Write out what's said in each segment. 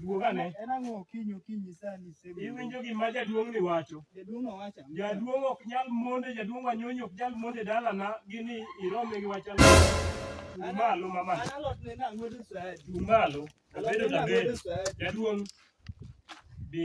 Duogane. En ang'o okinyi okinyi sani sebe. Iwinjo gima jaduong' ni wacho. Jaduong' owacho. Jaduong' ok nyal monde, jaduong' wanyonyi ok nyal monde dalana gini irome gi wacha. Chung' malo mama. An alot ne na ng'wedo sadi. Chung' malo. Abedo tabedo. Jaduong' bi.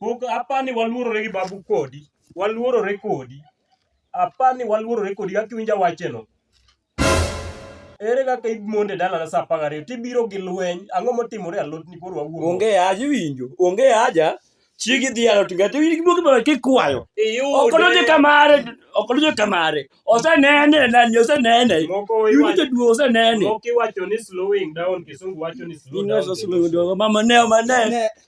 Pok apani waluorore gi babu kodi. Waluorore kodi. Apani waluorore kodi kaka iwinja wacheno. Ere kaka imonde dalana sa apar gariyo tibiro gi lweny ang'o motimore alotni koro wawuo. Onge haja iwinjo. Onge haja. Chigi dhi alot ngati iwinjo gibuogi bana kikwayo. Ok odonjo kamare. Ok odonjo kamare. Osenene nani osenene. Iwinjo jaduo osenene. Moko iwacho ni slowing down kisungu wacho ni slow down. Mama ne mama ne.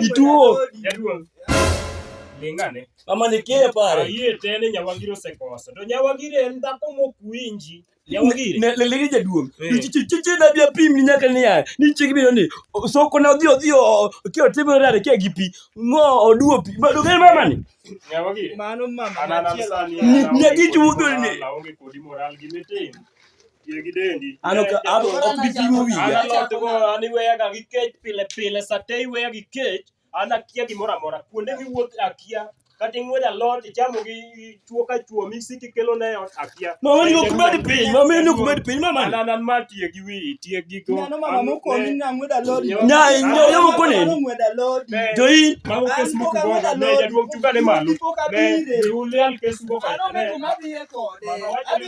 Ituo. Jaduong. Lingane. Ama nikie pare. Ayie tene nyawagiro sekosa. To nyawagire en dhako mokwinji. Lelege jaduong'. Eh. Chiche na bia pim ni nyaka niya. Ni chigi bino ni. Soko na odhi odhi ki otimo rare ki gi pi. Ngo oduo pi. Ba dogen mama ni. Nyawagire. Mano mama. Ni nyagi chudo ni. Laonge kodi moral gi metin. Ano ano ok bi pimo wiya. Ana lot go ani weyaga gi kech pile pile sate iweya gi kech an akia gimoro amora kuonde miwuoth akia kata ing'wedo alot ichamo gi chuo ka chuo misiki kelo ne ot akia. Mama ni ok med piny, mama ni ok med piny mama. An an an ma tiye gi wi tiye gi go. Nano mama mokoni na ng'wedo alot. Nya nyo yo mokoni. Ng'wedo alot. To in mama kes moko go ne jaduong' chunga ne malo. Ne ulial kes moko. Ano mama ma biye kode.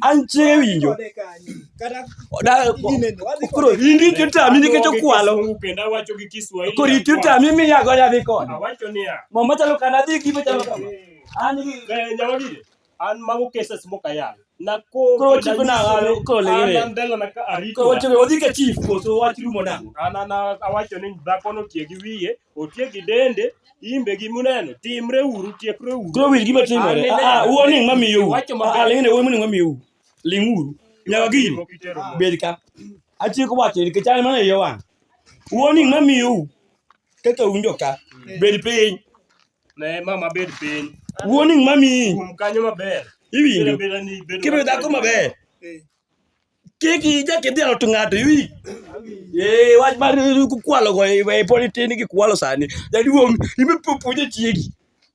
anchewinjo koro indi kitami nikech okwalo koro ititami miyago yadhi kode mo machalo kana dhi gi machalo kama an mago cases mokayal odhi ka chief koso wach rumo nango awacho ni dhakono tie gi wiye otieki dende imbe gi muneno timre uru tiekre uru koro winj gima timore Anene. ah ah, uoni ng'a miyou Wacho maber. ah ah, ling'ne uoni moni ng'a miyou ling' uru nyaka gini Moko itero mo. bed ka atieko wacho nikech an mana iye wang' uoni ng'a miyou kaka unjo ka bed piny ne mama bed piny uoni ng'a miyi kuom kanyo maber iwinjo Beda ni bedo kibedo dhako maber Kiki ija kidhi alo to ng'ato iwi. Eh, wach mar kukwalo go e e poni tin gi kwalo sani. Jaduong' ibe puonje chiegi.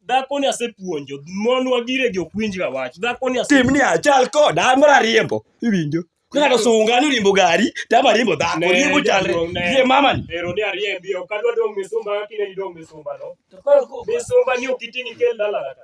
Dhakoni asepuonjo, mon wagire gi ok winjga wach. Dhakoni ase Tim ni achal koda an mara riembo. Iwinjo? Ng'ato sunga ni riembo gari, tama riembo dhako, Ne, riembo chalre. jaduong', ne. Gie mama ni. ero ni ariembi, ok adwa dong' misumba kaka ineni dong' misumba no. Misumba ni ok iting' ikel dala kata.